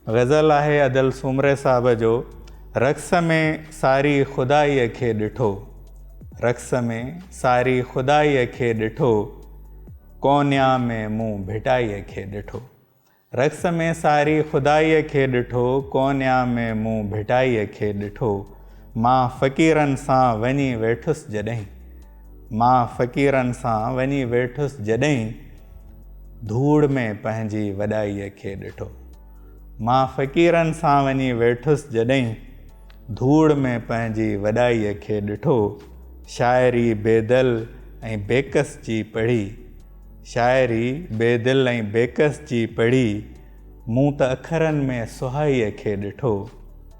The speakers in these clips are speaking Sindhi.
غزل آهي ادل سومري صاحب جو رقص ۾ ساري خدائيء کي ڏٺو رقص ۾ ساري خدائيء کي ڏٺو ڪونيا ۾ مون ڀٽائيء کي ڏٺو رقص ۾ ساري خدائيء کي ڏٺو ڪونيا ۾ مون ڀٽائيء کي ڏٺو مان فقيرن سان وڃي ويٺس جڏهن مان فقيرن سان وڃي ويٺس جڏهين ڌوڙ ۾ پنهنجي وڏائيء کي ڏٺو. مان فقيرن سان وڃي ويٺس جڏهين ڌوڙ ۾ پنهنجي وڏائيء کي ڏٺو شاعري بيدل ۽ بيڪس جي پڙهي شاعري بيدل ۽ بيڪس جي پڙهي مون ته اکرن ۾ سهائيء کي ڏٺو.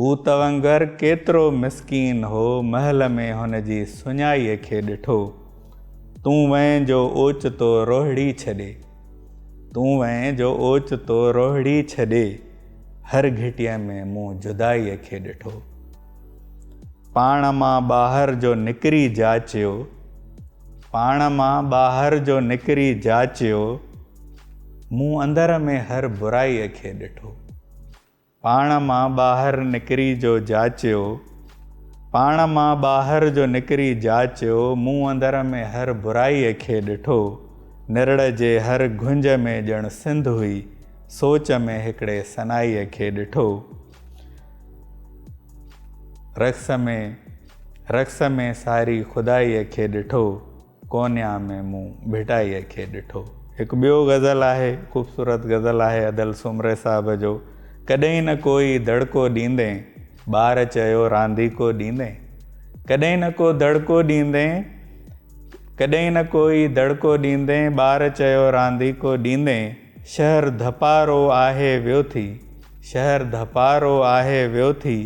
هو توانگر ڪيترو مسڪين هو محل ۾ هن جي سڃائيء کي ڏٺو. تون وئين جو اوچتو روهڙي ڇڏي. تون وئين جو اوچتو روهڙي ڇڏي. هر گهٽيء ۾ مون جدائيء کي ڏٺو. پاڻ مان ٻاهر جو نڪري جاچيو. پاڻ مان ٻاهر جو نڪري جاچيو. مون اندر ۾ هر برائيء کي ڏٺو. پاڻ مان ٻاهر نڪري جو جاچيو پاڻ مان ٻاهر جو نڪري جاچيو مون اندر ۾ هر برائي کي ڏٺو نرڙ جي هر گهنج ۾ ڄڻ سنڌ هئي سوچ ۾ هڪڙي سنائي کي ڏٺو رقص ۾ رقص ۾ ساري خدائي کي ڏٺو ڪونيا ۾ مون ڀٽائيء کي ڏٺو. هڪ ٻيو غزل آهي، خوبصورت غزل آهي ادل سومري صاحب جو، ڪڏهين نه ڪوئي دڙڪو ڏيندين، ٻار چيو رانديڪو ڏيندين. ڪڏهين نه ڪو دڙڪو ڏيندين، ڪڏهين نه ڪوئي دڙڪو ڏيندين، ٻار چيو رانديڪو ڏيندين، شهر ڌپارو آهي ويو ٿي، شهر ڌپارو آهي ويو ٿي،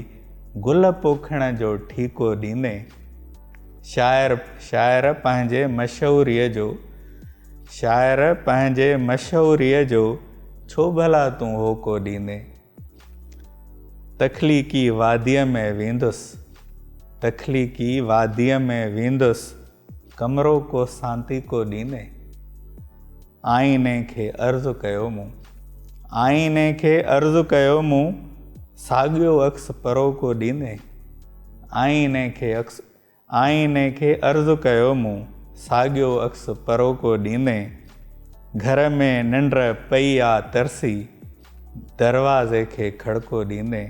گل پوکڻ جو ٺيڪو ڏيندين. شاعر شاعر پنهنجي مشهوريء جو شاعر پنهنجي مشهوريء جو ڇو ڀلا تون هوڪو ڏيندين تخليقي واديء ۾ ويندس تخليقي واديء ۾ ويندس ڪمرو ڪو سانتيڪو ڏيندين آئيني کي عرض ڪيو مون. آئيني کي عرض ڪيو مون، ساڳيو عڪس پروڪو ڏيندين. آئيني کي عڪس آئيني کي عرض ڪيو مون، ساڳيو عڪس پروڪو ڏيندين. گهر ۾ ننڊ پئي آ ترسي، دروازي کي کڙڪو ڏيندين.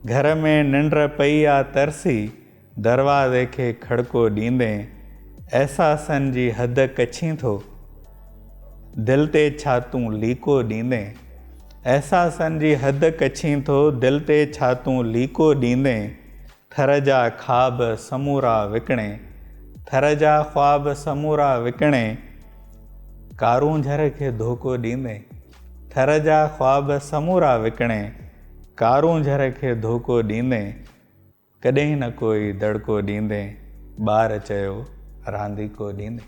گهر ۾ ننڊ پئي آ ترسي. دروازي کي کڙڪو ڏيندي احساسن جي حد ڪڇين ٿو دل تي ڇا تون ليڪو ڏيندي احساسن جي حد ڪڇين ٿو دل تي ڇا تون ليڪو ڏيندي ٿر جا خاب سمورا وڪڻي ٿر جا خواب سمورا وڪڻي ڪارونجهر کي ڌوڪو ڏيندي ٿر جا خواب سمورا وڪڻي ڪارونجهر کي ڌوڪو ڏيندي ڪڏهن نه ڪوئي دڙڪو ڏيندين، ٻار چيو رانديڪو ڏيندين.